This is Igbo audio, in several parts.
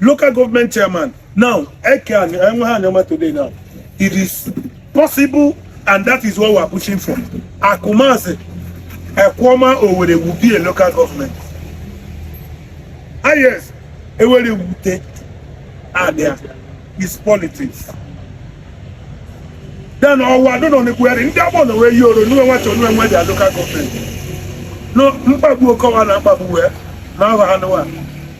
local government chairman now eke enwe ha Anioma today now it is possible and that is what we are pushing for Akumazi Ekwuoma Owerre will be a local government ah yes ewere wute abia is politics then ọwa dọ nọ n'ekwugharị ndị Agbọ na wee yi oro nwe nwachi onwe nwe their local government no mkpagbu Okowa na mkpagbu wee na ahụ anụwa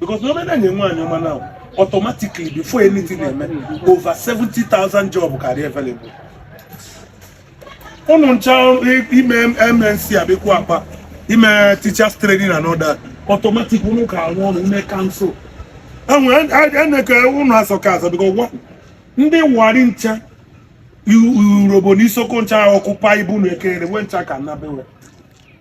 because o me na e nwe Anioma now automatically before anything na-eme over 70,000 job karị available ụnụ ncha ime mnc abịakwu akpa ime teachers training and all that automatic ụnụ ka arụ ọrụ ime council eneke ụnụ asọ ka asọ because ndị Warri ncha Urhobo na Isoko ncha occupy bụ na ekere nwe ncha ka nnabewe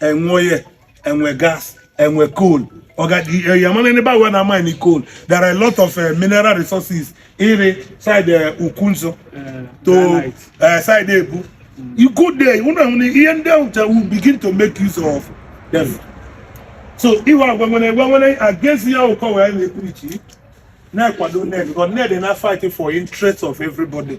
enwe oil enwe gas enwe coal yamana ebe awa na mine coal there are a lot of uh, mineral resources iri side uh, eh, Ukwunzu eh, to uh, side Ebu mm. you go there unu ahụ na ihe ndị ahụ will begin to make use of them so iwe agwa nwere egwe nwere against ya ụkọ wee na-ekwu iche na-ekwado Ned because Ned na-fight for interest of everybody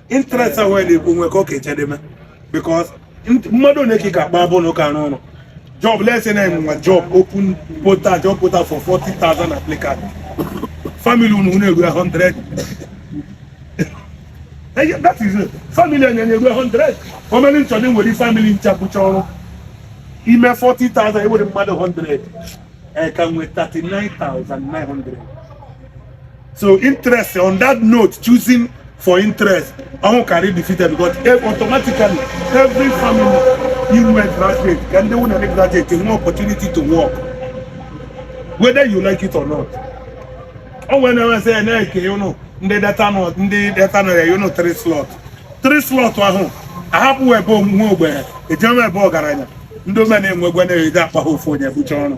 interest ahụ ya na-ekwu nwe ka ọ ka echedeme because mmadụ na-eke ka akpa abụ na ụka arụ ọrụ job let's say na enwe job open portal job portal for 40,000 applicants family unu unu eru 100 Eh, that is it. family onye na-eru 100 omere children nwe family ncha bụcha ọrụ ime 40,000 ewere mmadụ 100 eh, ka nwee 39,900 so interest on that note choosing for interest ọnwụ karị defeated because e, automatically every family iru graduate ka ndị nwunye ndị graduate nwee opportunity to work whether you like it or not o nwere na-enwesị ya na-eke ụnụ ndị Delta North ndị Delta North ya ụnụ three slot three slot ahụ ahapụ ebe ụmụ ogbenye ejem ebe ọgaranya ndị omenenwe gwe na-eji akpa ha ofu onye bucha ọnụ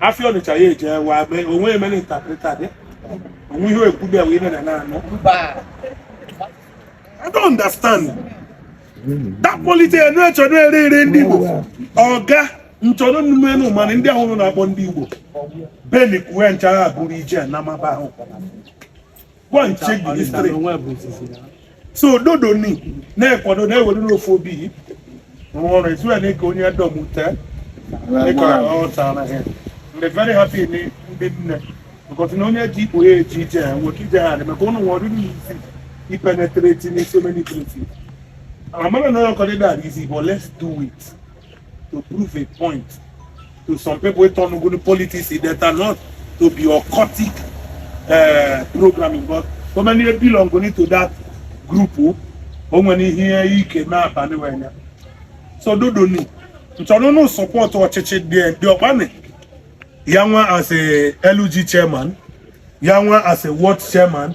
afịa Ọnịcha ya eje wa be onwe emere interpreter dị onwe ihe ekwubi ewe ime na na-anụ I don't understand that politics enu echọrọ ere ere ndị Igbo oga nchọrọ nnume enu mana ndị ahụ na-akpọ ndị Igbo beli kuwe nchara abụrụ ije Anambra ahụ go and check the history so dodo ni na-ekwado na-ewere n'ofu obi rụọ ọrụ etu ya na-eke onye dọmute dịka ọ tara ha I'm very happy ni ndị nne because na onye ji ikpo ya eji ije ya nwere ike ije ha adị maka ụnụ nwere ọ dịdị easy ipenetrate in so many places amara na ọkọdịda adị easy but let's do it to prove a point to some people wey turn ogun politics e dey turn out to be occultic uh, programming but so many belong go need to that group o o nwere ihe ike mee abalị wee ya so dodo ni nchọrọ unu support ọchịchị dị dị ọkpani ya nwa as a LG chairman ya nwa as a ward chairman